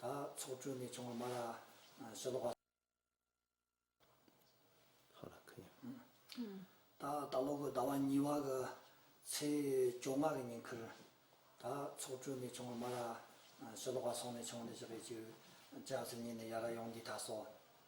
ད་ཚོགས་དྲུང་ནས་བྱུང་བ་མ་ལ་ཞེ་ལོག་པ། ད་ལྟ་ལོག་གི་ཟླ་བ་གཉིས་བ་གི་ཚེས་བཅོ་ལྔ་གི་ཉིན་ཁུར། ད་ཚོགས་དྲུང་ནས་བྱུང་བ་མ་ལ་ཞེ་ལོག་པ་སོང་ནས་བྱུང་ནས་བཞག་པའི་བཅུ། ལྕགས་ཚེས་གཉིས་ནས་ཡར་ཡོང་འདི་ད་སོགས།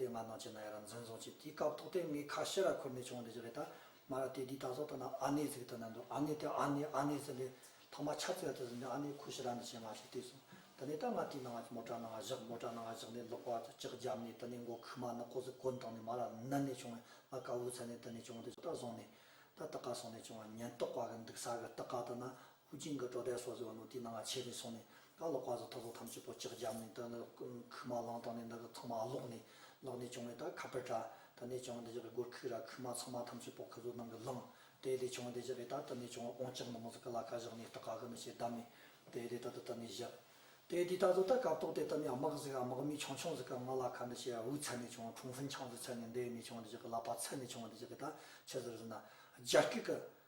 དེ་ང་ནང་ཆེ་ན་ཡ་ར་འཛིན་བཟུང་བྱས་དེའི་སྐབས་ཐོག་དེ་ངའི་ཁ་ཤེ་ར་ཁུར་ནས་བྱུང་བ་འདི་ཅི་རེད་ད་མ་ར་དེ་དེའི་ད་གཟོག་ཐ་ན་ཨ་ནེ་ཟིག་ཐ་ན་འདུག་ཨ་ནེ་དེ་ཨ་ནེ་ཨ་ནེ་ཟེར་ལེ་ཐོག་མ་ཆ་རྩེ་བ་དེ་ཟིན་ནས་ཨ་ནེ་ཁུ་ཤི་ར་འདི་བྱས་མ་ཤི་བལྟས་སོང་ད་ནས་ད་ང་དེའི་ནང་མོ་ཏྲ་ནང་བཞག་མོ་ཏྲ་ནང་བཞག་ནས་ལོག་པ་ལྕགས་བརྒྱབ་ནས་ད་ནས་མགོ་ཁུག་མ་ནག་ཁོག་ཟིག་གོན་བཏང་ནས་མ་ར་ནི་ནས་བྱུང་བས་ང་དཀའ་བོའི་ཚད་ནས་ད་ནས་བྱུང་བ་འདི་ཅི་ད་བཟུང་ནས་ད་ད་ག་སོང་ནས་བྱུང་བ་ཉེན་རྟོག་པ་གི་འདུག་ས་གི་རྟགས་ཀ་ད་ན་ཧུའུ་ཅིང་གི་སྤྲོ་བསྡད་སོགས་ཟེར་བ་ནོར་དུས་ནང་ང་ཆེད་ནས་སོང་ནས་ད་ལོ་བཀའ་ཟུར་ཐོག་ཚོགས་ཐམས་ཅད་པོ་ལྕགས་བརྒྱབ་ནས་ད་ནི་ཁུག་མ་བླངས་སྟངས་ནས་འདི་གི་ཚང་མ་ལོག་ནས་ལོག་ནས་བྱུང་བས་ད་ཁ་པར་དྲ་ད་ནས་བྱུང་བ་འདི་ཅག་གི་སྒོར་ཁུག་ར་ཁུག་མ་ཚང་མ་ཐམས་ཅད་པོ་ཁུ་ཟུར་ནང་གི་བླངས་དེ་ལས་བྱུང་བ་འདི་ཅག་གི་ད་ད་ནས་བྱུང་བ་ཨོང་ལྕགས་ནང་ཟུག་གི་ལ་ཁ་བཞག་ནས་ལྟ་ག་གི་ནི་ཞེས་བདམས་ནས་དེ་ལས་ད་ད་ད་ནས་བཞག་དེ་དུས་ད་གཟོད་ད་སྐབས་ཐོག་དེ་ད་ནས་དམག་ཟིག་དམག་མི་ཆུང་ཆུང་ཟིག་གི་ང་ལ་ཁ་འདི་ཞེས་ཝུའུ་ཚལ་ནས་བྱུང་བ་ཁྲུང་ཧྥིན་ཆང་ཟིག་ཚལ་ནས་འདི་ནས་བྱུང་བ་འདི་ཅག་གི་ལ་པ་ཚལ་ནས་བྱུང་བ་འདི་ཅག་གི་ད་ཆུ་ཟིག་རིན་ན་རྒྱ་སྐད་གི་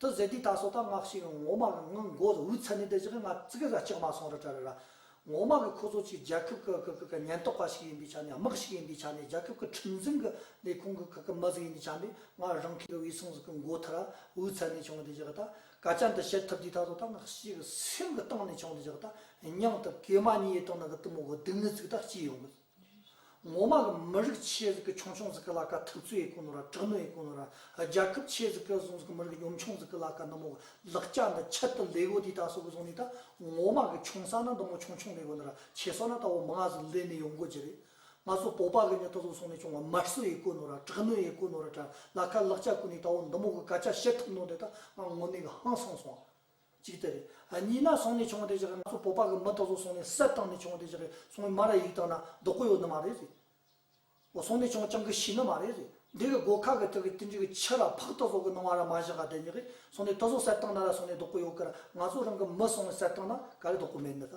དུ་ཟེར་དུས་ད་སོ་ད་ངག་ཞིག་ངོ་མ་གི་ངང་མགོ་འུར་ཚ་ནས་བསྡད་ཅིག་ང་ཙི་གི་ཟ་ཅིག་མ་སོང་ར་ཏྲ་ར་ར། ངོ་མ་གི་ཁོ་ཚོ་ཅིག་རྒྱལ་ཁབ་གི་གི་གི་གི་ཉེན་རྟོག་པ་ཞིག་ཡིན་པའི་ཆ་ནས་དམག་ཞིག་ཡིན་པའི་ཆ་ནས་རྒྱལ་ཁབ་གི་ཁྲིམས་འཛིན་གི་ལས་ཁུངས་གི་གི་གི་མི་ཟིག་ཡིན་པའི་ཆ་ནས་ང་རང་ཁྱེད་ཀྱི་འུས་སངས་ཟིག་གི་མགོ་ཐ་ར་འུར་ཚ་ནས་བྱུང་བསྡད་ཅིག་ད་སྐད་ཆ་འདི་བཤད་ཐུབ་དུས་ད་སོ་ད་ངག་ཞིག་གི་སེམས་གི་གཏིང་ནས་བྱུང་བསྡད་ཅིག་ད་སྙིང་དུ་གེ་མ་གཉིས་ཡེ་ཏོ་ནི་གི་གཏི་མུག་གི་སྡུག་བསྔལ་ཟིག་ད་སྐྱེས་ཡོང་གི། ངོ་མ་གི་མི་རིགས་ཆེད་ཟིག་གི་ཆུང་ཆུང་ཟིག་གི་ལ་ཀ་ཐུབ་ཚོད་ཡི་གུ་ནོ་ར་དྲག་ནོ་ཡི་གུ་ནོ་ར་རྒྱལ་ཁབ་ཆེད་ཟིག་གི་ཟུང་ཟིག་གི་མི་རིགས་གི་ཉོམ་ཆུང་ཟིག་གི་ལ་ཀ་འདི་མོ་གི་ལག་སྐྱ་འདི་ཁྱད་དུ་ལེ་གོ་དེ་ད་སོག་གི་ཟུང་ནི་ད་ངོ་མ་གི་ཆུང་ས་ན་འདི་མོ་ཆུང་ཆུང་ལེ་གོ་ནི་ར་ཆེ་སོག་ན་ད་བོ་མི་ང་ཟིག་ལེ་ནི་ཡོང་གོ་གྱི་རེད། ང་ཚོ་བོ་པ་གི་ནི་ད་སོག་ཟུང་ནི་ཆུང་བ་མར་སོ་ཡི་གུ་ནོ་ར་དྲག་ནོ་ཡི་གུ་ནོ་ར་དྲ་ལ་ཀ་ལག་སྐྱ་གུ་ནི་ད་བོ་འདི་མོ་གི་ག་ཅ་བྱེད་ཐུབ་ནོ་འདི་ད་ང་ངོ་ནི་གི་ཧང་སང་སོང། ཅིག་སྟེ། གཉིས་ན་སོང་ནས་བྱུང་བ་དེ་བཞག་གི་ང་ཚོ་བོད་པ་གི་མི་དག་ཚོ་སོང་ནས་གསེར་བཏང་ནས་བྱུང་བ་དེ་བཞག་གི་སོང་བའི་མ་ར་ཡིག་དག་ན་རྡོག་པོ་ཡོད་ནི་མ་རེད་རེད། འོ་སོང་ནས་བྱུང་བ་ཅང་གི་ཤི་ནི་མ་རེད་རེད། འདི་གི་སྒོ་ཁ་གི་སྟེང་གི་ཏིལ་འབྲུ་གི་ཕྱི་ར་ཕག་ཏུ་ཟོག་གི་སྣང་བ་ར་མ་བཞག་ག་དེ་ཉིད་ཀྱིས་སོང་ནས་ཏུ་ཟོག་གསེར་བཏང་ན་ར་སོང་ནས་རྡོག་པོ་ཡོད་གི་ར་ང་ཚོ་རང་གི་མི་སོང་ནས་གསེར་བཏང་ན་ག་རེ་རྡོག་པོ་མེད་ནི་ད།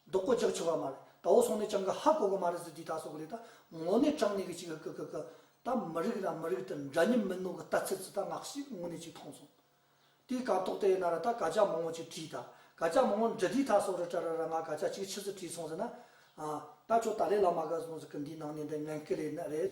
རྡོག་པོ་རྒྱག་ཆོག་ག་མ་རེད་ད་འོ་སོང་ནས་ཀྱང་ག་ཧ་གོ་གི་མ་རེད་ཟེར་དུས་ད་སོ་གི་རེད་ད་ངོ་ནས་དྲང་ནས་གི་ཅིག་ཀི་ཀི་ཀི་ད་མི་རིགས་དང་མི་རིགས་དེར་འདྲ་མཉམ་མིན་ནོ་གི་ལྟ་ཚུལ་ཙི་ད་ནག་ཤི་དངོས་གནས་ཅིག་མཐོང་སོང། དུས་གང་ཐོག་དེ་ཡི་ན་ར་ད་ག་ཅག་མང་བོ་ཅིག་བྲིས་ད་ག་ཅག་མང་བོ་འདྲི་དུས་ད་སོ་རི་བཀྲ་ར་ར་ང་ག་ཅག་ཅིག་ཕྱི་ཟིར་བྲིས་སོང་ཟེར་ན། ཨ། ད་ཁྱོད་ད་ལས་ལ་མ་ག་སོང་ཟེར་གི་འདིའི་ནང་ནས་འདི་ངན་སྐུལ་ལས་ནི་རེད།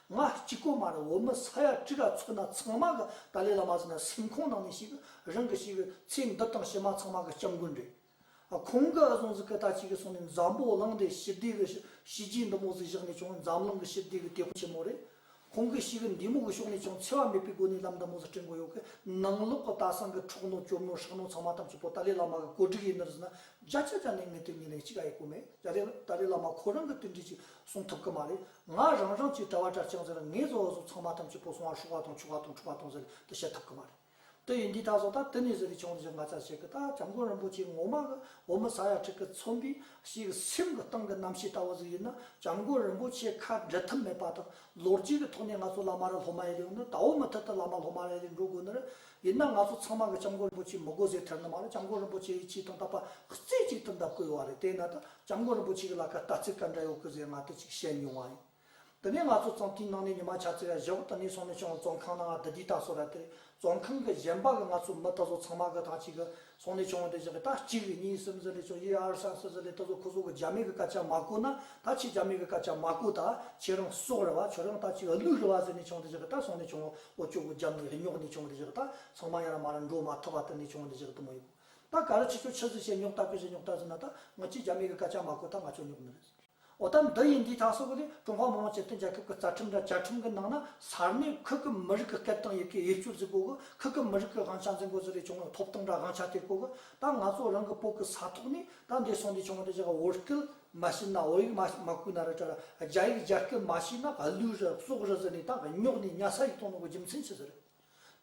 ང་གཅིག་ཁོ་མ་རེད་འོ་མི་ས་ཡ་བཀྲིས་ར་ཚོ་ན་ཚང་མ་གི་ཏཱ་ལའི་བླ་མ་ཟེར་ན་སེམས་ཁོང་ནང་ནས་ཞིག་རང་གི་ཞིག་ཚེ་འདི་དང་ཕྱི་མ་ཚང་མ་གི་སྐྱབས་མགོན་རེད། ཁོང་གི་གཟུངས་ཟིག་གི་ད་ཅིག་གི་སོང་ནས་འཛམ་བོ་གླིང་འདི་ཞི་བདེ་གི་བྱས་རྗེས་འདི་མོ་ཟིག་བཞག་ནས་ཀྱང་འཛམ་གླིང་གི་ཞི་བདེ་གི་དེ་ཁོ་ཆེན་མོ་རེད། ཁོང་གི་ཞིག་འདི་མོ་གི་ཕྱོགས་ནས་ཀྱང་འཚེ་བ་མེད་པའི་སྒོ་ནས་ལམ་འདི་མོ་ཟིག་སྤྲིང་དགོས་ཡོད་གི་ནང་ལོག་གི་ལྟ་སང་གི་འཕྲོག་ནོར་སྐྱོབ་ནོར་ཧྲག་ནོར་ཚང་མ་ཐམས་ཅད་པོ་ཏཱ་ལའི་བླ་མ་གི་གོ་སྒྲིག་ཡིན་ནིར་ཟེར་ན་རྒྱ་ཆ་རྒྱ་ནས་ངེད་དེ་གཉིས་ལས་གཅིག་ག་ཡི་གོ་མེད་རྒྱ་ལས་ཏཱ་ལའི་བླ་མ་ཁོ་རང་གི་དོན་འགྲེལ་ཅིག་གསུང་ཐུབ་གི་མ་རེད་ང་རང་རང་ཚོའི་གྲྭ་བ་གྲྭ་ལྕག་འཛིན་ར་ངེས་བཟོ་བ་བཟོ་ཚང་མ་ཐམས་ཅད་སྤོ་སོང་བར་ཧྲུག་བ་དང་ཆུ་བ་དང་འཁྲུ་བ་དང་ཟེར་དུ་བཤད་ཐུབ་གི་མ་རེད། དེ་ཡིན་དུས་ད་གཟོད་ད་དུས་ནས་བཟོས་པའི་ཆུང་འཛིན་ང་ཚ་བྱེད་ཀི་ད་བྱམས་མགོན་རིན་པོ་ཆེ་ངོ་མ་གི་འོ་མི་ཟ་ཡ་ཁྲི་ཀི་ཚོམ་བུའི་ཞིག་གི་སེམས་གི་སྟེང་གི་རྣམ་ཤེས་ལྟ་བུ་ཟིག་ཡིན་ན་བྱམས་མགོན་རིན་པོ་ཆེ་ཁ་འབྲལ་ཐུབ་མེད་པ་དང་ལོ་རྒྱུས་གི་ཐོག་ནས་ང་ཚོ་བླ་མ་རེད་སློབ་མ་ཡེ་རེད་འོ་ན་ད་འོ་མི་ཐད་དུ་བླ་མ་སློབ་མ་རེ་རེ་འགྲོ་དགོས་ནི་རེད་ཡིན་ན་ང་ཚོ་ཚང་མ་གི་སྐྱབས་མགོན་རིན་པོ་ཆེ་མི་དགོས་ཟེར་ཐལ་ནི་མ་རེད་སྐྱབས་མགོན་རིན་པོ་ཆེ་ཡི་ཆེ་དང་དག་པ་རྩེ་གཅིག་ཏུ་འདི་བསྐུལ་བ་རེད་དེས་ན་ད་སྐྱབས་མགོན་རིན་པོ་ཆེ་གི་ལ་ཁ་ལྟ་ཚིག་ག་འདྲ་ཡོད་གི་ཟེར་ང་དེ་ཅིག་བཤད་མྱོང་བ་ཡིན་དེ་ནས་ང་ཚོ་ཙང་ཏིའི་ནང་ནས་ཉི་མ་ཆ་ཚེ་ར་བཞི་བོ་དེ་ནས་སོང་ནས་ཆུང་བ་བཙོན་ཁང་ནང་ང་དི་དི་ད་སོ་ར་དེ་རེད་བཙོན་ཁང་གི་གཞན་པ་གི་ང་ཚོ་མི་དེ་ཚོ་ཚང་མ་གི་ཐང་ཅིག་གི་ཚོང་ལས་བྱུང་བ་དེ་བཞག་གི་ད་གཅིག་རེ་གཉིས་གསུམ་གསུམ་རེ་བྱུང་ཡི་ཨར་སང་སི་སི་རེ་ད་གཟོད་ཁོ་ཚོ་གི་རྒྱ་མི་གི་སྐད་ཆ་མ་གོ་ན་ད་ཁྱེད་རྒྱ་མི་གི་སྐད་ཆ་མ་གོ་ད་ཁྱེད་རང་སྲོག་རེ་བ་བྱོས་རང་ད་གཅིག་རེ་ལུས་རེ་བ་ཟེར་ནས་བྱུང་དེ་བཞག་གི་ད་ཚོང་ལས་བྱུང་བ་འོ་ཅོག་གི་རྒྱབ་ནས་རེ་ཉོག་ནས་བྱུང་དེ་བཞག་གི་ད་ཚང་མ་ཡང་ར་མ་ར་འགྲོ་མ་ཐུབ་པ་དེ་ནས་བྱུང་དེ་བཞག་གི་དུ་མ་ཡིན་གོ། ད་ག་རེ་ཁྱེད་ཚོ་ཁྱི་ཟིག་བྱས་ཉོག་ལྟ་ཁྱོ་ཟིག་ཉོག་ལྟ་ཟེར་ན་ད་ང་ཁྱེད་རྒྱ་མི་གི་སྐད་ཆ་མ་གོ་ད་ང་ཁྱོད་ཉོག་མི་རེད་ཟེར། འོ་ད་འདི་ཡིན་འདི་དང་སོགས་པ་ལས་ཀྲུང་ཧྭ་མི་དམངས་སྤྱི་མཐུན་རྒྱལ་ཁབ་ཀྱི་རྩ་ཁྲིམས་དང་བཅའ་ཁྲིམས་ཀྱི་ནང་ན་ས་གནས་ཁུལ་གྱི་མི་རིགས་ཀྱི་སྐད་དང་ཡི་གེ་དབྱེ་བསྐྱུར་འཛིན་སྤོ་གི་ཁུལ་གྱི་མི་རིགས་ཀྱི་དབང་ཆ་འཛིན་དགོས་ཚུལ་ལས་བྱུང་བའི་ཐོབ་ཐང་དང་དབང་ཆ་དེ་སྤོ་གི་ད་ང་ཚོ་རང་གི་སྤོ་གི་ས་ཐོག་ནས་ད་འདས་སོང་འདི་བྱུང་བ་འདི་བྱས་གི་འོ་སྐད་མ་བཤད་ན་འོ་ཡིག་མ་བརྐུས་ན་ར་བཀྲ་ར་རྒྱ་ཡིག་རྒྱ་སྐད་མ་བཤད་ན་ག་ལུས་ར་སྲོག་ར་ཟེར་ནས་ད་གི་སྙོག་ནས་ཉྭ་ས་ཡིག་ཐོག་ནང་གི་རྒྱུ་མཚན་ཆི་ཟེར་རེད།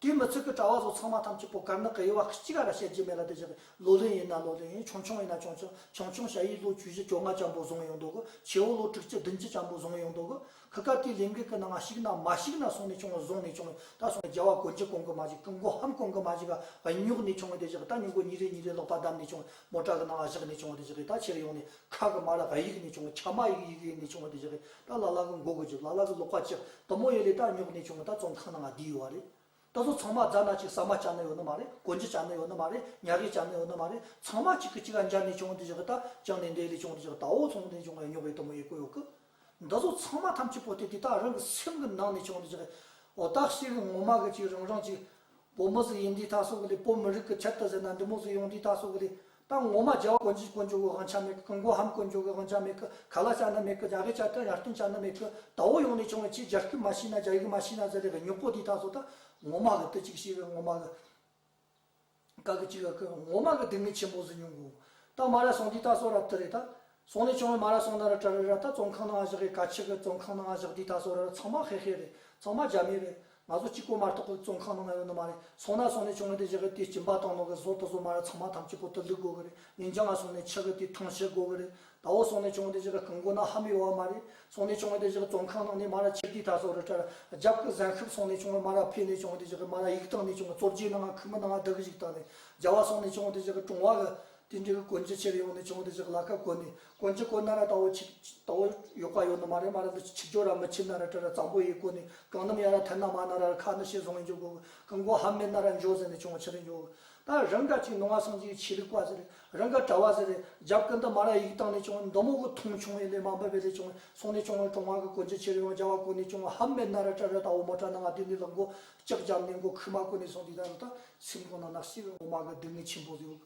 དུས་མི་ཚོད་ཀྱི་གྲྭ་བ་སོགས་ཚང་མ་ཐམས་ཅད་པོ་དཀར་ནག་གི་དབྱེ་བ་གཅིག་ག་ར་བྱེད་ཀྱི་མེད་ལ་དེ་བཞག་གི་ལོ་ལོན་ཡིན་ན་ལོ་ལོན་ཡིན་ཆུང་ཆུང་ཡིན་ན་ཆུང་ཆུང་ཆུང་ཆུང་ཞྭ་ཡིས་ལོ་བཅུ་བཞི་བཅོ་ལྔ་ལྕམ་པོ་བཟུང་ཡོང་འདུག་གོ་ཆེ་བོ་ལོ་དྲུག་ཅུ་བདུན་ཅུ་ལྕམ་པོ་བཟུང་ཡོང་འདུག་གོ་གྷི་ཀ་ཀིའི་ལས་འགུལ་གྱི་ནང་ཞིག་ན་མ་ཞིག་ན་སོང་ནས་བྱུང་བཟུང་ནས་བྱུང་ད་སོང་རྒྱལ་བ་གོ་འཇིག་གོང་གི་མ་ཞིག་གི་འགོ་ཧམ་གོང་གི་མ་ཞིག་ག་ཉོག་ནས་བྱུང་དེ་བཞག་གི་ད་ཉོག་གོ་ཉིན་རེ་ཉིན་རེ་ལོག་པ་བསྡམས་ནས་བྱུང་མོ་བྲག་གི་ནང་བཞག་ནས་བྱུང་དེ་བཞག་གི་ད་ཕྱིར་ཡོང་ནས་ཁ་གི་མ་ལ་ག་ཡིག་ནས་བྱུང་ཁྱ་མ་ཡིག་ཡིག་ཡིན་ནས་བྱུང་དེ་བཞག་གི་ད་ལ་ལ་གི་མགོ་བོ་གཅིག་ལ་ལ་གི་ལོག་པ་གཅིག་དུམ་མོ་ཡེ་ལས་ད་རྙོག་ནས་བྱུང་བ་ད་རྩོམ་ཐང་ནང་ང་བསྡད་ཡོད་བ་རེད། ད་སོ་ཚང་མ་རྫ་ནག་ཅིག་ཟ་མ་བྱ་ནི་ཡོད་ནི་མ་རེད་གོ་འཇི་བྱ་ནི་ཡོད་ནི་མ་རེད་ཉག་གེ་བྱ་ནི་ཡོད་ནི་མ་རེད་ཚང་མ་གཅིག་གི་གཅིག་ག་འཇར་ནས་བྱུང་བ་འདི་བཞག་གི་ད་བཅང་ནས་འདས་ལས་བྱུང་བ་འདི་བཞག་གི་ད་འོ་ཚོང་བ་འདི་ནས་བྱུང་བ་ཡང་རྙོག་ཡོད་དུམ་མོ་ཡོད་གོ་ཡོད་གི། འདི་ཚོ་ཚང་མ་ཐམས་ཅད་པོ་ཏི་དེ་དག་རང་གི་སེམས་ཀྱི་ནང་ནས་བྱུང་བ་འདི་བཞག་གི། འོ་ད་ཤི་གི་ངོ་མ་གི་གཅིག་རང་རང་གཅིག། བུ་མོ་ཟིག་ཡིན་དུས་ད་སོ་གི་ལས་བོད་མི་རིགས་ཀྱི་ཆེད་དུ་ཟེར་ན་འདི་མོ་ཟིག་ཡོང་དུས་ད་སོ་གི་ལས། དང་ངོ་མ་རྒྱལ་བ་དཀོན་ཅིག་དཀོན་མཆོག་གི་དབང་ཆ་མེད་གི་མགོ་ཧམ་དཀོན་མཆོག་གི་དབང་ཆ་མེད་གི་ག་ལ་བྱ་ན་མེད་གི་རྒྱ་གི་བྱ་ཏི་ཡར་སྟོན་བྱ་ན་མེད་གི་ད་འོ་ཡོང་ནས་བྱུང་བའི་ཆེ་རྒྱ་སྐུད་མ་ཤི་ན་རྒྱ་ཡིག་མ་ཤི་ན་ཟེར་རེ་གི་སྨྱུག་པོ་དེ་དག་ཚོ་ད་ངོ་མ་གི་ཏི་ཅིག་ཤི་གི་ངོ་མ་གི་ག་གི་ཅིག་གི་ངོ་མ་གི་སྡུག་བསྔལ་ཆེན་པོ་ཟིན་མྱོང་གི་འོ་ད་མ་ར་སོང་དེ་དག་ཚོ་ར་ཏི་རེ་ད་སོང་ནས་ཅོང་ལ་མ་ར་སོང་ན་ར་ཏྲ་རི་ར་ད་བཙོང་ཁང་ནང་བཞག་གི་ཀ་ཆི་གི་བཙོང་ཁང་ནང་བཞག་དུས་ད་སོ་ར་ར་ཚང་མ་ཧེ་ཧེ་རེད་ཚང་མ་རྒྱ་མི་རེད་ང་ཚོ་གཅིག་པོ་མ་རྟོག་གི་བཙོང་ཁང་ནང་ང་ཡོད་ནི་མ་རེད་སོང་ན་སོང་ནས་ཅོང་ར་དེ་བཞག་གི་དུས་སྐྱིན་པ་དང་ནོག་གི་ཟོ་ཏོ་ཟོ་མ་ར་ཚང་མ་ཐམས་ཅད་གོ་ཏོ་ལུག་དགོ་གི་རེད་ངན་ཅང་ང་སོང་ནས་ཆག་གི་དུས་ཐང་ཆད་དགོ་གི་རེད་ད་འོ་སོང་ནས་ཅོང་དེ་བཞག་གི་གང་དགོ་ན་ཧ་མི་ཡོ་བ་མ་རེད་སོང་ནས་ཅོང་དེ་བཞག་གི་བཙོང་ཁང་ནང་ནས་མ་ར་ཁྱེར་དུས་ད་སོ་ར་ཏྲ་ར་རྒྱབ་གི་གཟན་ཤུབ་སོང་ནས་ཅོང་ལ་མ་ར་ཕེ་ནས་ཅོང་དེ་བཞག་གི་མ་ར་ཡིག་བཏང་ནས་ཅོང་གི་བཙོ་རྒྱས་ནང་ང་ཁུ་མི་ནང་ང་བདག་གི་ཡིག་བཏང་ནས་རྒྱ་བ་སོང་ནས་ཅོང་དེ་བཞག་གི་ཀྲོང་བ་གི་དེ་འདྲའི་གོན་རྒྱུ་ཕྱིར་ཡོང་ནས་བྱུང་འདི་ཅག་ལ་ཁ་བཀོད་ནས་གོན་གྱི་གོན་ན་ར་ད་བོ་ཆིག་ད་བོ་ཡོད་པ་ཡོད་ནི་མ་རེད་མ་རེད་འདི་ཆིག་སྦྱོར་ར་མི་ཆིག་ན་ར་ཏྲི་ར་གཙང་པོ་ཡིན་གོ་ནི་གང་ནམ་ཡང་ར་ཐལ་ན་མ་ན་ར་ཁ་ནི་ཤེས་བཟུང་ཡིན་འཇུག་གོ་གི་མགོ་ཧམ་མེད་ན་ར་འཇོག་ཟེར་ནས་བྱུང་བ་ཕྱི་རུ་འཇོག་ད་རང་ག་ཅིག་ནང་བ་སངས་རྒྱས་ཀྱི་ཆོས་ལུགས་པ་ཟེར་རང་ག་གྲྭ་བ་ཟེར་རྒྱབ་ཀི་འདི་མ་ར་ཡིག་ཏང་ནས་བྱུང་བ་མདོ་མོ་གི་ཐུང་བྱུང་བས་ལས་མ་འབུལ་བས་ལས་བྱུང་བས་སོང་ནས་བྱུང་བ་ཀྲུང་ཧྭ་གི་གོན་རྒྱུ་ཕྱིར་ཡོང་རྒྱ་བ་གོ་ནི་བྱུང་བ་ཧམ་མེད་ན་ར་ཏྲི་ར་ད་བོ་མོ་ཏྲ་ན་ང་དུས་འདི་ལ་མགོ་ལྕགས་བརྒྱབ་ནས་མགོ་ཁུག་མ་གོ་ནི་སོང་འདི་ད་རུ་ད་སེམས་ཁོང་ན་ནག་སེ་བས་ངོ་མ་གི་སྡུག་བསྔལ་ཆེན་པོ་ཟོས་གི།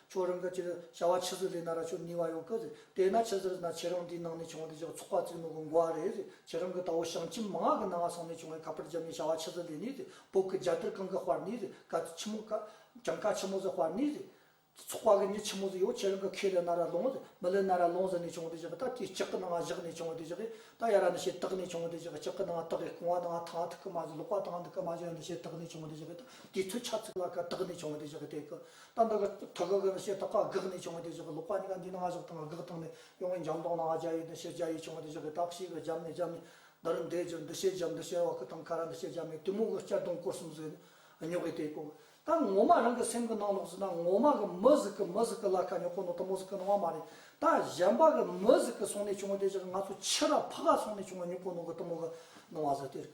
ཕྱོགས་རང་གི་ཕྱིར། བྱ་བ་ཕྱི་ཟུར་རེ་ན་ར་ཕྱོགས་གཉིས་བ་ཡོང་གི་རེད། དེས་ན་ཕྱི་ཟུར་ན་ཁྱེད་རང་འདིའི་ནང་ནས་བྱུང་བ་དེ་ཕྱོགས་ཚོགས་པ་བཙུགས་ནོ་གི་མགོ་བ་རེད། ཁྱེད་རང་གི་ད་འོ་ཞང་ཁྱིམ་མ་ང་གི་ནང་ང་སོང་ནས་བྱུང་བའི་ཁ་པར་རྒྱབ་ནས་བྱ་བ་ཕྱི་ཟུར་ལས་ནི་རེད། བོད་ཀྱི་རྒྱལ་དར་གང་གི་དཔར་ནི་རེད། ཀ་ཆི་མོ་ཀ། གྱང་ཀ་ཆི་མོ་ཟི་དཔར་ནི་རེད། ཚོགས་པ་གི་ནི་ཆི་མོ་ཟི་ཡོད་ཁྱེད་རང་གི་ཁས་ལེན་ན་ར་ལོང་རེད། མི་ལེན་ན་ར་ལོང་ཟི་ནས་བྱུང་བ་དེ་བཞག་གི་ད་དེ་ལྕགས་ཀི་ནང་ང་བཞག་ནས་བྱུང་བ་དེ་བཞག་གི། ད་ཡ་ར་ནི་ཤེས་རྟགས་ནས་བྱུང་བ་དེ་བཞག་གི་ལྕགས་ཀི་ནང་ང་རྟགས་ཡ་རྐུང་བ་ནང་ང་ཐང་ཐུག་གི་མ་བཞག་ལོག་པ་ཐང་ཐུག་གི་མ་བཞག་ཡ་ནི་ཤེས་རྟགས་ནས་བྱུང་བ་དེ་བཞག་གི་ད་དེ་ཐུག་ཆ་ཚུགས་ལ་ཀ་རྟགས་ནས་བྱུང་བ་དེ་བཞག་གི་དེ་ཀི། ད་འདི་ག་ཐ་ག་གི་ནི་ཞེས་ཐ་ག་དགག་ནས་བྱུང་བའི་དེ་ཞོག་གི་ལོག་པ་གཉིས་ཀ་འདི་ནི་ང་ཞོག་དང་དགག་སྟངས་ནི་ཡོང་བའི་འཇམ་དོག་ན་ང་རྒྱ་ཡོད་འདི་ཞེས་རྒྱ་ཡོད་བྱུང་བའི་དེ་ཞོག་གི་དག་ཞིག་གི་འཇམ་ནས་འཇམ་ནི་འདི་རུ་འདས་གྱུར་འདི་ཞེས་འཇམ་འདི་ཞེས་བ་ཁུ་དང་ཁ་ར་འདི་ཞེས་འཇམ་ནས་གཏི་མུག་གི་སྐྱ་གདུང་སྐོར་གསུམ་བཟོས་ནས་ཉོག་གི་དེ་ཀོ་གི་ད་ངོ་མ་རང་གི་སེམས་གི་ནང་ལོག་ཟིན་ན་ངོ་མ་གི་མི་ཟིག་གི་མི་ཟིག་གི་ལ་ཁ་ཉོག་ཁོ་ནོ་ཐུ་མོ་ཟིག་གི་ནོ་བ་མ་རེད་ད་གཞན་པ་གི་མི་ཟིག་གི་སོང་ནས་བྱུང་བའི་དེ་ཞོག་གི་ང་ཚོ་ཕྱི་ར་ཕུ་ག་སོང་ནས་བྱུང་བ་ཉོག་ཁོ་ནོ་གི་ཐུ་མོ་གི་ནོ་བ་ཟིག་དེ་རེད་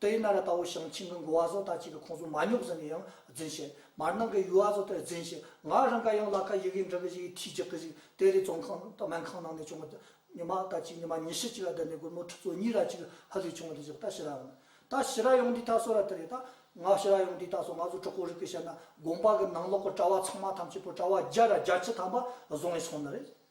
ཏཱ་ཡི་ན་ར་ཏའོ་ཞང་ཆིང་གི་མགོ་བ་ཟོག་དག་ཅིག་གི་ཁོང་ཟོག་མ་ཉོག་ཟིན་ནས་ཡང་རྫུན་བཤད། མར་ནང་གི་ཡུལ་བ་ཟོག་དེར་རྫུན་བཤད། ང་རང་ག་ཡང་བླ་ཁ་ཡི་གེ་འབྲི་གི་ཞིག་ཡིན་ཁྲིད་རྒྱག་གི་ཞིག་དེ་རེད་ཙོང་ཁང་སྨན་ཁང་ནང་ནས་བྱུང་བ་དེ། ཉི་མ་ཟླ་གཅིག་ཉི་མ་ཉི་ཤུ་གཅིག་ལ་བསྡད་ནས་སྒོར་མོ་ཁྲི་ཚོ་གཉིས་ར་གཅིག་ཧ་ལས་བྱུང་བ་དེ་བཞག་ད་ཤི་ར་ཡོང་ད་ཤི་ར་ཡོང་དུས་ད་སོ་ར་དེ་རེད་ད། ང་ཤི་ར་ཡོང་དུས་ད་སོ་ང་ཚོ་གྲོགས་པོ་རིགས་ཀྱི་བཤད་ན་དགོན་པ་གི་ནང་ལོག་གི་གྲྭ་བ་ཚང་མ་ཐམས་ཅད་པོ་གྲྭ་བ་བརྒྱ་ར་བརྒྱ་ཁྱི་ཐམ་པ་བཟོ་ངེས་སོང་ནི་རེད།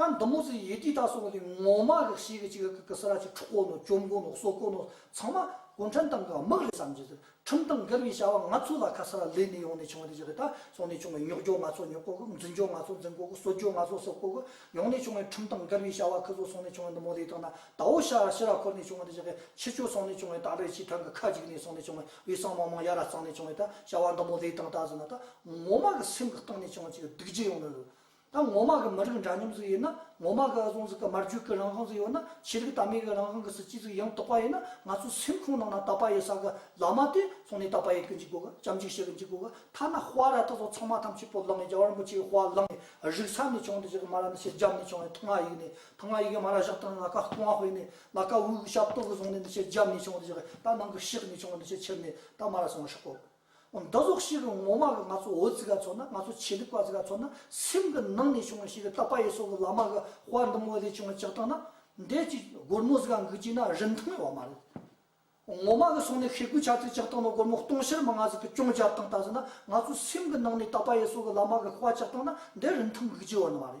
ད་འདི་མོ་ཚོས་ཡེ་ཏི་ད་སོགས་ལས་ངོ་མ་ལེགས་ཤེས་ཀྱི་ཅིག་ཀ་ཀ་སི་ར་ཆེ་ཕྲུག་དཀོན་ནོ་བཅོམ་དགོན་ལོག་སོག་དཀོན་ནོ་ཚང་མ་གུང་ཁྲན་ཏང་གི་དམག་རེད་བསམ་གྱི་འདུག་ཁྲིམས་དང་འགལ་བའི་བྱ་བ་ང་ཚོ་ལ་ཁ་ས་ར་ལས་ནས་ཡོང་ནས་བྱུང་བ་དེ་ཅི་རེད་ད་སོང་ནས་བྱུང་བའི་ཉོག་འཇོག་ང་ཚོ་ཉོག་དཀོ་གི་འཛིན་འཇོག་ང་ཚོ་འཛིན་དཀོ་གི་གསོད་འཇོག་ང་ཚོ་གསོད་དཀོ་གི་ཡོང་ནས་བྱུང་བའི་ཁྲིམས་དང་འགལ་བའི་བྱ་བ་ཁི་ཚོ་སོང་ནས་བྱུང་བའི་འདི་མོ་ལས་དང་ན་ད་འོ་ཤ་ར་ཤི་ར་འཁོར་ནས་བྱུང་བ་དེ་ཅི་ཀ་ཁྱི་ཁྱོད་སོང་ནས་བྱུང་བའི་ད་ལོའི་སྤྱི་ཐང་གི་ཁ་ཅིག་ནས་སོང་ནས་བྱུང་བའི་འོས་སྲང་མང་མང་ཡ་ར་གཙང་ནས་བྱུང་བའི་ད་བྱ་བ་འདི་མོ་ལས་དང་ད་ཟེར་ན་ད་ངོ་མ་གི་སེམས་གི་སྟེང་ནས་བྱུང་བ་ཅིག་སྡིག་རྒྱུ་ཡོང་ནི་རེད་ད་ངོ་མ་གི་མི་རིགས་འདྲ་མཉམ་ཟིག་ཡོད་ན་ངོ་མ་གི་ཨ་ཟོང་ཟིག་གི་མར་རྒྱུད་གི་རང་དབང་ཟིག་ཡོད་ན་ཆོས་རིག་དར་མའི་གི་རང་དབང་གི་སྲིད་ཇུས་ཟིག་ཡང་དག་པ་ཡོད་ན་ང་ཚོའི་སེམས་ཁུང་ནང་ན་དད་པ་ཡོད་ས་གི་བླ་མ་དེ་སོང་ནས་དད་པ་ཡོད་གི་འཇུག་གོ་གི་བྱམས་བརྩེ་བྱེད་གི་འཇུག་གོ་གི་ཐ་ན་དཔའ་ར་ད་སོགས་ཚང་མ་ཐམས་ཅད་པོ་ལང་ནས་རྒྱ་བར་འབུ་ཆེ་གི་དཔའ་ལང་ནས་རིག་ས་ནས་བྱུང་འདི་ཞག་གི་མ་ར་ནི་ཕྱིར་རྒྱབ་ནས་བྱུང་ཡི་ཐང་ང་ཡིག་ནས་ཐང་ང་ཡིག་གི་མ་ར་བཞག་ཏུ་ན་ལ་ཀ་སྟོང་ང་དཔེ་ནས་ལ་ཀ་དབུགས་ཞབས་ཏོག་གི་བཟུང་ནས་འདི་ཕྱིར་རྒྱབ་ནས་བྱུང་འདི་ཞག་གི་ད་ནང་གི་ཤེག་ནས་བྱུང་འདི་ཕྱིར་ཕྱིར་ནས་ད་མ་ར་སོང་ང་ཤོག་གོ་གི། འདི་རྫོགས་ཤིག་གི་ངོ་མ་གི་ང་ཚོ་འོད་ཟེར་ག་ཚོ་ན་ང་ཚོ་ཆེ་ལུགས་པ་ཟེར་ག་ཚོ་ན་སེམས་གི་ནང་ནས་བྱུང་བ་ཞིག་གི་རྟག་པ་ཡི་སོགས་གི་ལ་མ་གི་དཔར་འདི་མོ་ལས་བྱུང་བ་ཅག་དང་ན་འདས་ཀྱི་སྒོར་མོ་ཟེར་ག་འགུལ་གྱིས་ན་རིན་ཐང་ཡོད་བ་མ་རེད། ངོ་མ་གི་སོང་ནས་ཤེས་དགོས་ཆ་ཚད་ཅག་དང་ན་སྒོར་མོ་སྟོང་ཕྱིར་མ་ང་ཟིག་གི་ཅུང་རྒྱབ་དང་ལྟ་ཟིན་ན་ང་ཚོ་སེམས་གི་ནང་ནས་རྟག་པ་ཡི་སོགས་གི་ལ་མ་གི་དཔའ་ཅག་དང་ན་འདས་རིན་ཐང་འགུལ་གྱི་ཡོད་ན་མ་རེད།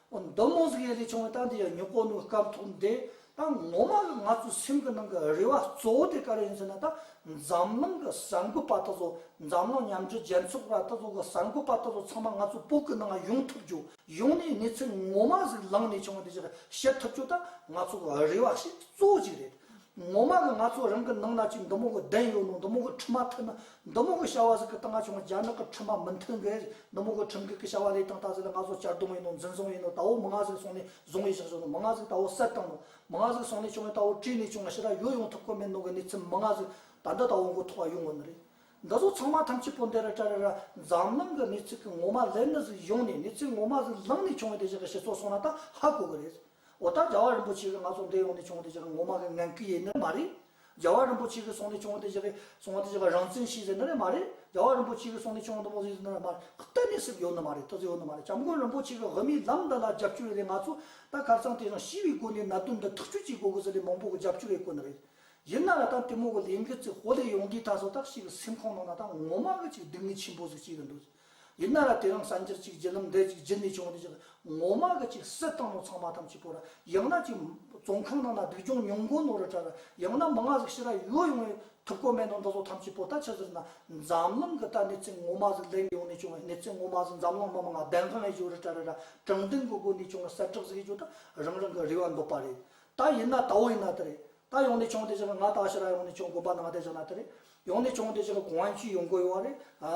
མདོ་མོ་གཟུགས་ཡན་ལས་བྱུང་བའི་རྟགས་འདི་ཡང་ཉོ་སྐོར་ནུས་སྐབས་ཐོབ་འདི་དང་ངོ་མ་ང་ཚོའི་སེམས་ཀྱི་ནང་གི་རེ་བ་གཙོ་བོ་དེ་ག་རེ་ཡིན་ཟེར་ན་ད་འཛམ་གླིང་གི་གསར་འགོད་པ་ད་གཟོད་འཛམ་གླིང་མཉམ་འབྲེལ་རྒྱལ་ཚོགས་པ་ད་གཟོད་གི་གསར་འགོད་པ་ད་གཟོད་ཚང་མ་ང་ཚོའི་བོད་ཀྱི་ནང་ཡོང་ཐུབ་རྒྱུ་ཡོང་ནས་གནས་ཚུལ་ངོ་མ་གཟུགས་ལང་ནས་བྱུང་བ་འདི་ཞིག་ཤེས་ཐུབ་རྒྱུ་ད་ང་ཚོ་གི་རེ་བ་ཞིག་གཙོ་བོ་གཅིག་རེད། ངོ་མ་གི་ང་ཚོ་རང་གི་ནང་ན་ཅིག་མདོ་མོ་གི་གདན་ཡོད་ནོ་མདོ་མོ་གི་ཁྲི་མ་ཐོན་ན་མདོ་མོ་གི་བྱ་བ་ཟིག་གི་སྟངས་ང་ཆུང་རྒྱ་ནག་གི་ཁྲི་མ་མི་མཐུན་གི་མདོ་མོ་གི་ཁྲིམས་གིག་གི་བྱ་བ་ལས་སྟངས་ད་ཟིག་ལ་ང་ཚོ་གཅར་རྡུང་ཡིན་ནོ་འཛིན་བཟུང་ཡིན་ནོ་ད་བོ་མི་ང་ཟིག་སོང་ནས་བཟུང་ཡི་ཞག་བྱུང་ནོ་མི་ང་ཟིག་ད་བོ་གསལ་བཏང་ནོ་མི་ང་ཟིག་སོང་ནས་བྱུང་ཡིན་ད་བོ་བྲིས་ནས་བྱུང་ང་ཤི་ར་ཡོད་ཡོང་ཐུབ་ཁོ་མེད་ནོ་གི་གནས་ཚུལ་མི་ང་ཟིག་ད་འདི་ད་བོ་མགོ་ཐོག་ཡོང་གི་ནི་རེད་འདི་ཚོ་ཚང་མ་ཐམས་ཅད་པོ་འདི་ར་ཀྲ་ར་ར་འཛམ་གླིང་གི་གནས་ཚུལ་གི་ངོ་མ་ལེར་ནི་ཟིག་ཡོང་ནས་གནས་ཚུལ་ངོ་མ་ཟིག་ལངས་ནས་བྱུང་ཡིན་དེ་བཞིན་གི་ཞི་ཚོགས་སོང་ན་ད་ཧ་གོ་གི་རེད། འོ་ད་རྒྱལ་བ་རིན་པོ་ཆེ་གིས་ང་ཚོ་འདས་ཡོང་ནས་བྱུང་བ་དེ་བཞག་ངོ་མ་གི་ངན་སྐུལ་ཡེ་ནི་མ་རེད། རྒྱལ་བ་རིན་པོ་ཆེ་གིས་སོང་ནས་བྱུང་བ་དེ་བཞག་སོང་བ་དེ་བཞག་རང་བཙན་ཤེས་ཟེར་ནི་རེད་མ་རེད། རྒྱལ་བ་རིན་པོ་ཆེ་གིས་སོང་ནས་བྱུང་བ་འདི་མོ་ཟེར་ནི་རེད་མ་རེད། གཏན་ནས་སྲིད་ཡོད་ནི་མ་རེད་ལྟོ་ཟེར་ཡོད་ནི་མ་རེད་སྐྱབས་མགོན་རིན་པོ་ཆེ་གིས་དབུ་མའི་ལམ་འདི་ལ་རྒྱབ་སྐྱོར་ཡོད་རེད་ང་ཚོ་ད་གར་ཚང་དེ་རང་ཞི་བའི་སྒོ་ནས་གནད་དོན་འདི་ཐག་གཅོད་བྱེད་དགོས་གི་ཟེར་ལས་མང་པོ་གི་རྒྱབ་སྐྱོར་ཡོད་དགོས་ནི་རེད། ཡིན་ན་ལ་ད་དེ་མོ་གི་ལས་འགུལ་ཚིག་ཧོ་ལས་ཡོང་དུས་ད་སོ་ད་ཞིག་གི་སེམས་ཁོང་ནང་ན་ད་ངོ་མ་གི་ཅིག་སྡུག་བསྔལ་ཆེན་པོ་ཟིག་སྐྱེས་གི་འདུག། ཡིན་ན་ར་དེ་རིང་གསར་འགྱུར་གཅིག་བརྒྱུད་ལམ་འདེད་གཅིག་བརྒྱུད་ནས་བྱུང་བ་དེ་ཅིག་ངོ་མ་གི་ཅིག་སྲིད་ཏང་ནང་ཚང་མ་ཐམས་ཅད་པོ་ར་ཡང་ན་ཅིག་བཙོན་ཁང་ནང་ན་སྡུག་སྦྱོང་ཉུང་མགོ་ནོར་ར་གྲ་ར་ཡང་ན་མི་ང་ཟིག་ཤི་ར་ཡོད་ཡོང་ཡོད་ཐུབ་ཀོ་མེད་ནོ་འདི་ཚོ་ཐམས་ཅད་པོ་ད་ཆ་ཟིར་ན་འཛམ་གླིང་གི་ད་གནས་ཚུལ་ངོ་མ་ཟིག་ལེན་ཡོང་ནས་བྱུང་བ་གནས་ཚུལ་ངོ་མ་ཟིག་འཛམ་གླིང་མི་མང་བདེན་དཔང་ཡོད་ར་གྲ་ར་ར་དྲང་བདེན་གི་སྒོ་ནས་བྱུང་བ་གསལ་བསྒྲགས་ཟིག་ཡོད་ད་རང་རང་གི་རེ་བ་འདོད་པ་རེད་ད་ཡིན་ན་ད་འོ་ཡིན་ན་དེ་རེད་ད་ཡོང་ནས་བྱུང་དེ་ཅིག་ང་ད་ཤི་ར་ཡོང་ནས་བྱུང་དགོན་པ་ནང་བསྡད་བཞག་ན་དེ་རེད། ཡོང་ནས་བྱུང་བ་དེ་ཕྱིར་གོང་དབང་ཅུས་ཡོང་དགོས་ཡོད་རེད།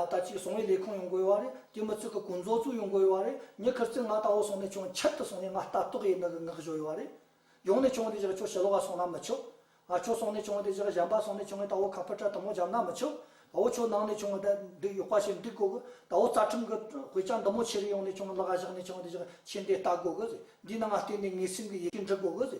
ད་ཅིག་བཟུང་བའི་ལས་ཁུངས་ཡོང་དགོས་ཡོད་རེད། དེ་མ་ཚུད་ཁ་ཀུན་རྫོགས་ཚུལ་ཡོང་དགོས་ཡོད་རེད། ཉེ་ཁར་ཚིག་ངག་ལྟ་བུ་སོང་ནས་བྱུང་ཕྱིར་དུ་སོང་ནས་ང་ལྟ་རྟོག་ཡས་ནག་གི་ངག་བཞོ་ཡོད་རེད། ཡོང་ནས་བྱུང་བ་དེ་ཕྱིར་ཁྱོད་ཞེ་ལོག་ག་སོང་ན་མི་ཆོག། ཨ་ཁྱོད་སོང་ནས་བྱུང་བ་དེ་ཕྱིར་གཞན་པ་སོང་ནས་བྱུང་བའི་ལྟ་བུ་ཁ་ཕུ་ཁྲ་དུམ་བུ་འཇམ་ན་མི་ཆོག། ཨོ་ཁྱོད་ནང་ནས་བྱུང་བ་དེ་འདི་ཡོག་པ་ཞིག་འགྲིག་དགོས་གི། ད་ཨོ་རྩ་ཁྲིམས་ཀྱི་དཔེ་ཆ་འདི་མོ་ཕྱི་རུ་ཡོང་ནས་བྱུང་བ་ལག་ག་བཞག་ནས་བྱུང་བ་དེ་ཕྱིར་ཁྱེད་འདི་ལྟ་དགོས་གི། འདི་ནང་ང་བལྟས་ནས་ངའི་སེམས་ཀྱི་ཡི་གེ་འབྲི་དགོས་གི།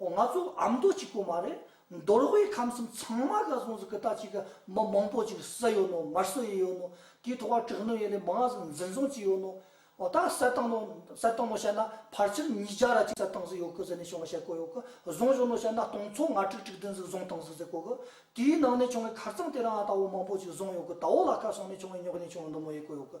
འོ་ང་ཚོ་ཨ་མདོ་གཅིག་པོ་མ་རེད་མདོར་དབུས་ཁམས་གསུམ་ཚང་མ་ག་སོང་ཟིག་གི་ད་ཅིག་གི་མི་མང་པོ་ཅིག་བསད་ཡོད་ནོ་མར་བསད་ཡི་ཡོད་ནོ་དེའི་ཐོག་བ་དྲག་ནོ་ཡེ་ནས་མི་ང་ཟིག་འཛིན་བཟུང་བྱས་ཡོད་ནོ་འོ་ད་བསད་བཏང་ནོ་བསད་བཏང་ནོ་བཤད་ན་ཕར་ཆེར་ཉིས་བརྒྱ་ར་ཅིག་བསད་བཏང་ཟིག་ཡོད་གི་ཟེར་ནས་བྱུང་བ་བཤད་དགོས་ཡོད་གི་བཟུང་བཞུགས་ནོ་བཤད་ན་སྟོང་ཚོ་ང་དྲུག་དྲུག་བདུན་ཟིག་བཟུང་བཏང་ཟིག་ཟེར་དགོས་གི་དེའི་ནང་ནས་བྱུང་བའི་ཁར་རྩང་དེ་རང་ཨ་ད་བོ་མང་པོ་ཅིག་བཟུང་ཡོད་གི་ད་བོ་ལ་ག་སོང་ནས་བྱུང་བའི་ཉོག་ཉེས་བྱུང་བ་མདོ་མོ་ཡེ་དགོས་ཡོད་གི།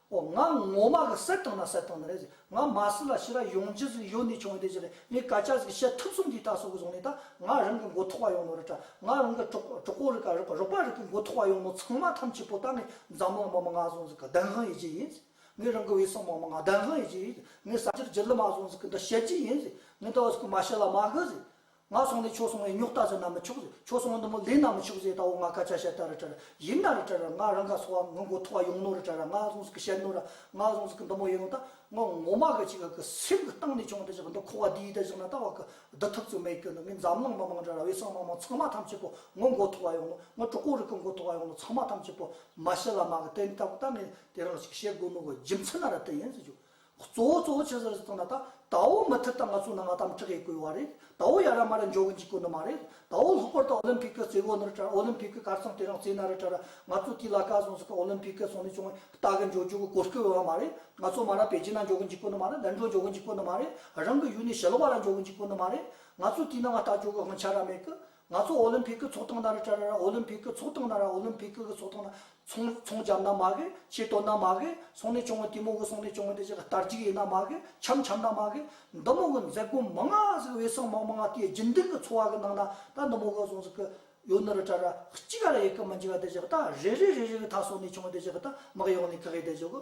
ཨོ་ང་ངོ་མ་གི་སེར་དང་ན་སེར་དང་ན་རེད་ཟེར་ང་མ་སི་ལ་ཤི་ར་ཡོང་རྗེས་ཟིག་ཡོད་ནི་ཆུང་བས་དེ་ཟེར་ལས་ངས་ག་ཅག་ཟིག་བཤད་ཐུབ་གསུམ་གྱིས་ད་སོ་གི་བཟུང་ནས་ད་ང་རང་གི་མགོ་ཐོག་བ་ཡོང་ནོ་རེད་ད་ང་རང་གི་གྲོགས་པོ་རིག་ག་རོགས་པ་རིག་གི་མགོ་ཐོག་བ་ཡོང་ནོ་ཚང་མ་ཐམས་ཅད་པོ་ད་ངས་འཛམ་གླིང་མ་མ་ང་བཟུང་ཟིག་གི་བདེན་དབང་ཡོད་ཀྱི་ཡིན་ཟིག་ངས་རང་གི་བའི་སྲོག་མ་མ་ང་བདེན་དབང་ཡོད་ཀྱི་ཡིན་ཟིག་ངས་ས་ཆར་རྗེ་ལི་མ་བཟུང་ཟིག་གི་འདི་བཤད་ཀྱི་ཡིན་ཟིག་ངས་ད་བ་ཟིག་གི་མ་ཤི་ལ་མ་གི་ཟིག་ང་སོང་ནས་ཁྱོད་སོང་བའི་རྙོག་དྲ་ཟེར་ན་མི་ཆོག་ཟེར་ཁྱོད་སོང་བ་འདི་མོ་ལེན་ན་མི་ཆོག་ཟེར་ད་འོ་ང་སྐད་ཆ་བཤད་ད་རི་བྲལ་ཡིན་ན་རི་བྲལ་ར་ང་རང་ག་སོང་བ་ངུ་མགོ་ཐོག་བ་ཡོང་ནོ་རི་བྲལ་ར་ང་སོང་ཟིག་གི་བཤད་ནོ་ར་ང་སོང་ཟིག་གི་འདི་མོ་ཡོང་ད་ངོ་ངོ་མ་གི་ཅིག་ག་གི་སེམས་གི་སྟེང་ནས་བྱུང་ད་ཅིག་གི་འདི་ཁོ་བ་འདིའི་ད་ཅིག་ན་ད་བ་གི་བསྡུ་ཐུབ་ཚོད་མེད་ཁྱོད་འདི་ངའི་འཛམ་གླིང་མི་མང་འདྲ་ར་བའི་སྲང་མ་མང་ཚང་མ་ཐམས་ཅད་པོ་ངུ་མགོ་ཐོག་བ་ཡོང་ནོ་ངུ་གྲོགས་པོ་རི་གི་མགོ་ཐོག་བ་ཡོང་ནོ་ཚང་མ་ཐམས་ཅད་པོ་མ་ཤི་ལ་མ་གི་དེ་ལྟ་བུ་ད་ངས་དེ་རང་ཅིག་བཤད་དགོས་ནོ་གི་རྒྱུ་མཚན་ན་ར་དེ་ཡིན་ཟེར་བྱུང། གཙོ་བོ་གཙོ་བོ་ཆེ་ཟེར་ཟེར་དང་ད་ལྟ་ད་འོ་མི་ཐེར་ད་ང་ཚོ་ནང་ང་དམ་དྲག་གི་སྐུལ་བ་རེད་ད་འོ་ཡ་ར་མ་ར་འཇོག་གི་འཇིག་གོ་ནི་མ་རེད་ད་འོ་ལྷག་པར་ད་འོ་ལིམ་ཕིག་གི་རྩེ་གོ་ནི་ར་དྲ་འོ་ལིམ་ཕིག་གི་གར་ཚང་དེ་རང་རྩེ་ན་ར་དྲ་ར་ང་ཚོ་དེ་ལ་ཀ་ཟུང་ཟི་ཀ་འོ་ལིམ་ཕིག་གི་ཚོང་ལས་ཆུང་བས་ལྟ་གི་འཇོག་འཇོག་གི་གོ་སྐུལ་བ་མ་རེད་ང་ཚོ་མ་ར་པེ་ཅིན་ན་འཇོག་གི་འཇིག་གོ་ནི་མ་རེད་ལན་ཀྲོ་འཇོག་གི་འཇིག་གོ་ནི་མ་རེད་རང་གི་ཡུལ་ནས་ཞི་ལ་བ་ར་འཇོག་གི་འཇིག་གོ་ནི་མ་རེད་ང་ཚོ་དེ་ན་ང་ལྟ་འཇོག་གི་དབང་ཆ་ར་མེད་གི་ང་ཚོ་ཨོ་ལིམ་ཕིག་གི་ཚོགས་སྟངས་ན་རི་ཀྲ་ར་ར་ཨོ་ལིམ་ཕིག་གི་ཚོགས་སྟངས་ན་ར་ཨོ་ལིམ་ཕིག་གི་ཚོགས་སྟངས་ན་ཚོང་ཚོང་བྱམས་ན་མ་གི་ཆེ་དོ་ན་མ་གི་སོང་ནས་བྱུང་དེ་མོ་གི་སོང་ནས་བྱུང་དེ་ཅག་གི་དར་གཅིག་ཡིན་ན་མ་གི་འཆམ་འཆམ་ན་མ་གི་འདི་མོ་གི་མཛད་སྒོ་མི་མངའ་ཟིག་དབྱི་སང་མང་མི་མངའ་དེ་རྒྱུན་ལྡན་གི་འཚོ་བ་གི་ནང་ན་ད་འདི་མོ་གི་སོང་ཟིག་གི་ཡོ་ནི་རི་ཀྲ་ར་གཅིག་ག་ལ་ཡི་གི་མི་འཇིག་ག་དེ་ཅག་གི་ད་རེ་རེ་རེ་རེ་གི་ད་སོང་ནས་བྱུང་དེ་ཅག་གི་ད་མི་གཡོག་ནས་ག་གི་དེ་ཅག་གི།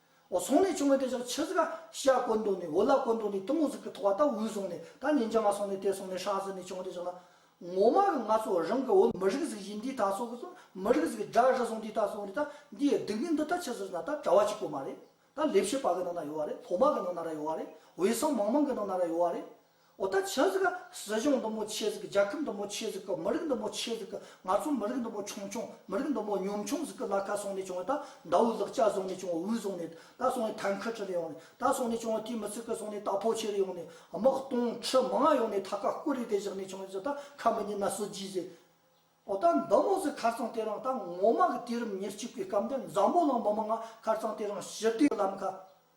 ཟོང་ལས་བྱུང་བའི་དེ་ཕྱག་ཕྱི་ཟིག་ཤ་བཀོལ་མདོག་ནས་འོ་ལ་བཀོལ་མདོག་ནས་གཏི་མུག་ཟིག་གི་ཐོག་བ་ད་འུའི་ཟོང་ནས་ད་ཉིན་བྱ་མ་སོང་ནས་དེ་སོང་ནས་ཧྲག་ཟིག་ནས་བྱུང་བ་དེ་ཕྱག་ན། ངོ་མ་གི་ང་ཚོ་རང་གི་འོ་མི་རིགས་ཟིག་བཞི་འདི་ད་སོག་གི་སོང་མི་རིགས་ཟིག་སྒྲ་རི་སོང་འདི་ད་སོང་རི་ད་འདིའི་སྡིག་མི་འདི་ད་ཕྱི་ཟིག་ན་ད་གྲྭ་བ་གཅིག་པོ་མ་རེད་ད་ལས་བྱེད་པ་གི་ནང་ན་ཡོད་བ་རེད་ལྷོ་མ་གི་ནང་ན་ར་ཡོད་བ་རེད་འོད་སྲང་མང་མང་གི་ནང་ན་ར་ཡོད་བ་རེད། ཨོ་ད་ཆོས་ཟིག་ག་སྲིད་གཞུང་འདི་མོ་ཆོས་ཟིག་གི་རྒྱལ་ཁབ་འདི་མོ་ཆོས་ཟིག་གི་མི་རིགས་འདི་མོ་ཆོས་ཟིག་གི་ང་ཚོ་མི་རིགས་འདི་མོ་ཆུང་ཆུང་མི་རིགས་འདི་མོ་ཉུང་ཆུང་ཟིག་གི་ལ་ཁ་སོང་ནས་བྱུང་བ་ད་མདའ་བོའི་ལག་ལྕགས་བཟུང་ནས་བྱུང་བ་འུར་བཟུང་ནས་ད་སོང་ནས་ཐང་ཁ་ཁྲི་ལ་ཡོང་ནས་ད་སོང་ནས་བྱུང་བ་དེའི་མི་ཚིག་གི་སོང་ནས་ད་ཕོ་ཆེ་རུ་ཡོང་ནས་དམག་སྟོང་ཁྲི་མང་ཡོང་ནས་ད་ཁ་སྐུ་རི་དེ་བཞག་ནས་བྱུང་ཟིག་ད་ཁ་མི་ཉན་ན་སྲིད་ཇུས་ཟིག་ཨོ་ད་འདི་མོ་ཟིག་ཁར་ཚང་དེ་རང་ད་ངོ་མ་གི་དུས་རིམ་ཉེར་གཅིག་པའི་སྐབས་འདི་འཛམ་བུ་གླིང་མི་མང་ང་ཁར་ཚང་དེ་རང་ཞི་བདེའི་ལམ་ཁ།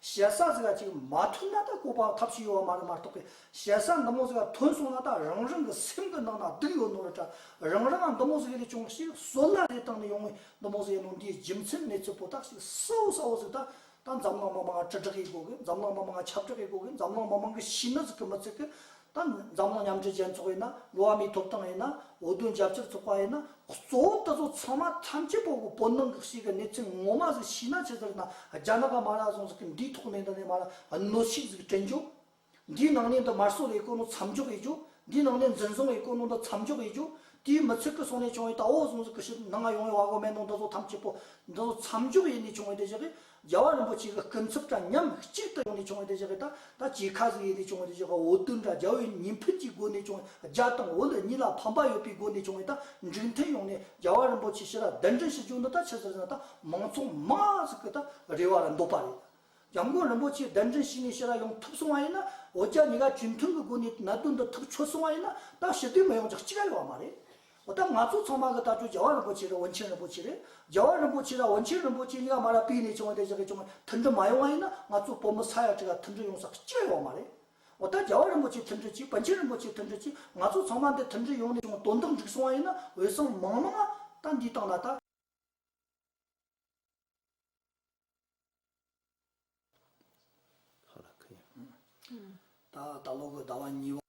ཞལ་བཟང་ཟེར་བ་ཅིག་མ་ཐོན་ན་ད་ཀོ་པའང་ཐབས་ཤེས་ཡོད་བ་མ་རེད་མ་གཏོགས་པའི་ཞལ་བཟང་འདི་མོ་ཟེར་བ་ཐོན་སོང་ན་ད་རང་རང་གི་སེམས་གི་ནང་ན་སྡུག་ཡོད་ནོར་འདྲ་རང་རང་འདི་མོ་ཟེར་ལས་ཅུང་ཞིག་བཟོད་གླགས་རེ་བཏང་ནས་ཡོང་ངོས་འདི་མོ་ཟེར་ནོར་འདིའི་རྒྱུ་མཚན་མེད་ཚུལ་པོ་ཏག་ཞིག་གསལ་བོ་གསལ་བོ་ཟིག་ད་ད་འཛམ་གླིང་མི་མང་དྲི་བྲག་གིས་གོ་གི་འཛམ་གླིང་མི་མང་ཁྱབ་བསྒྲགས་གིས་གོ་གི་འཛམ་གླིང་མི་མང་གི་ཤི་ན་ཟིག་གི་མི་ཚིག་གི་དང། འཛམ་གླིང་མཉམ་འབྲེལ་རྒྱལ་ཚོགས་ཡིན་ན་འགྲོ་བ་མིའི་ཐོབ་ཐང་ཡིན་ན་འོས་བསྡུ་རྒྱབ་སྐྱོར་ཚོགས་པ་ཡིན་ན་གཙོ་བོ་འདི་ཚོ་ཚང་མ་ཐམས་ཅད་པོ་བོད་ནང་གི་ཞིག་གི་གནས་ཚུལ་ངོ་མ་ཟིག་ཤི་ན་ཆེ་ཟེར་ན་རྒྱ་ནག་གི་མ་ར་ཟུང་ཟིག་གི་འདིའི་ཐོག་ནས་འདི་ནས་མ་ར་གནོད་ཤིག་ཟིག་དྲན་རྒྱུ། འདིའི་ནང་ནས་འདི་དམར་གསོད་བའི་དཀོན་ནོ་མཚམས་འཇོག་ཡེད་རྒྱུ། འདིའི་ནང་ནས་འཛིན་བཟུང་བའི་དཀོན་ནོ་འདི་མཚམས་འཇོག་ཡེད་རྒྱུ། དེའི་མི་ཚིག་གི་སོང་ནས་བྱུང་བའི་ད་བོ་ཟུང་ཟིག་གི་ཞིག་ནང་ང་ཡོང་བའི་བ་གོ་མེད་ནོ་འདི་ཚོ་ཐམས་ཅད་པོ་འདི་ཚོ་མཚམས་འཇོག་ཡེད་ནས་བྱུང་བའི་འདི་ཞིག་གི་རྒྱལ་བ་རིན་པོ་ཆེ་གི་སྐུ་འཚོབ་འདྲ་མཉམ་གཅིག་ཏུ་ཡོང་ནས་བྱུང་བ་དེ་བཞག་གི་དང་ད་ཇི་ཁ་ཟིག་ཡིན་ཏེ་བྱུང་བ་དེ་བཞག་གི་འོ་དུད་འདྲ་རྒྱལ་བོའི་ཉིན་ཕུད་ཀྱི་སྒོ་ནས་བྱུང་བའི་རྒྱ་དང་འོ་ལུ་གཉིས་ལ་ཕམ་པ་ཡོད་པའི་སྒོ་ནས་བྱུང་བའི་དང་འགྲིག་མཐུན་ཡོང་ནས་རྒྱལ་བ་རིན་པོ་ཆེ་ཕྱི་ལ་གདན་འདྲེན་ཞུ་རྒྱུ་འདི་དང་ཕྱི་ཟེར་ན་དང་མང་ཚོགས་མང་ཟིག་གི་དང་རེ་བ་རུ་འདོད་པ་རེད། རྒྱ་མགོན་རིན་པོ་ཆེ་གདན་འདྲེན་ཞུས་ནས་ཕྱི་ལ་ཡོང་ཐུབ་སོང་བ་ཡིན་ན་འོ་རྒྱ་གཉིས་ཀ་གཅིག་མཐུན་གི་སྒོ་ནས་གནད་དོན་འདི་ཐག་ཆོད་སོང་བ་ཡིན་ན་དང་ཞི་བདེ་མི་ཡོང་རྒྱག་གཅིག་ག་ཡོད་བ་མ་རེད། འོ་ད་ང་ཚོ་ཚང་མ་གི་ལྟ་སྤྱོད་རྒྱལ་བ་རིན་པོ་ཆེ་དང་དབོན་ཆེན་རིན་པོ་ཆེ་རེད། རྒྱལ་བ་རིན་པོ་ཆེ་དང་དབོན་ཆེན་རིན་པོ་ཆེ་གཉིས་ཀ་མ་ལ་པིས་ནས་བྱུང་བ་དེ་བཞག་གི་བྱུང་བ་མཐུན་སྒྲིལ་མ་ཡོང་བ་ཡིན་ན་ང་ཚོ་བོད་མི་ས་ཡ་གཅིག་ལ་མཐུན་སྒྲིལ་ཡོང་ས་སྐྱེ་ཡོང་བ་མ་རེད། འོ་ད་རྒྱལ་བ་རིན་པོ་ཆེ་མཐུན་སྒྲིལ་གྱིས་དཔོན་ཆེན་རིན་པོ་ཆེ་མཐུན་སྒྲིལ་གྱིས་ང་ཚོ་ཚང་མ་འདི་མཐུན་སྒྲིལ་ཡོང་ནས་བྱུང་དོན་དུ་འགྲིག་སོང་བ་ཡིན་ན་འོས་སམ་མང་མང་ཨ་ད་འདི་བཏང་ན་ད། ད་ལོ་གི་ཟླ་བ་གཉིས་པ།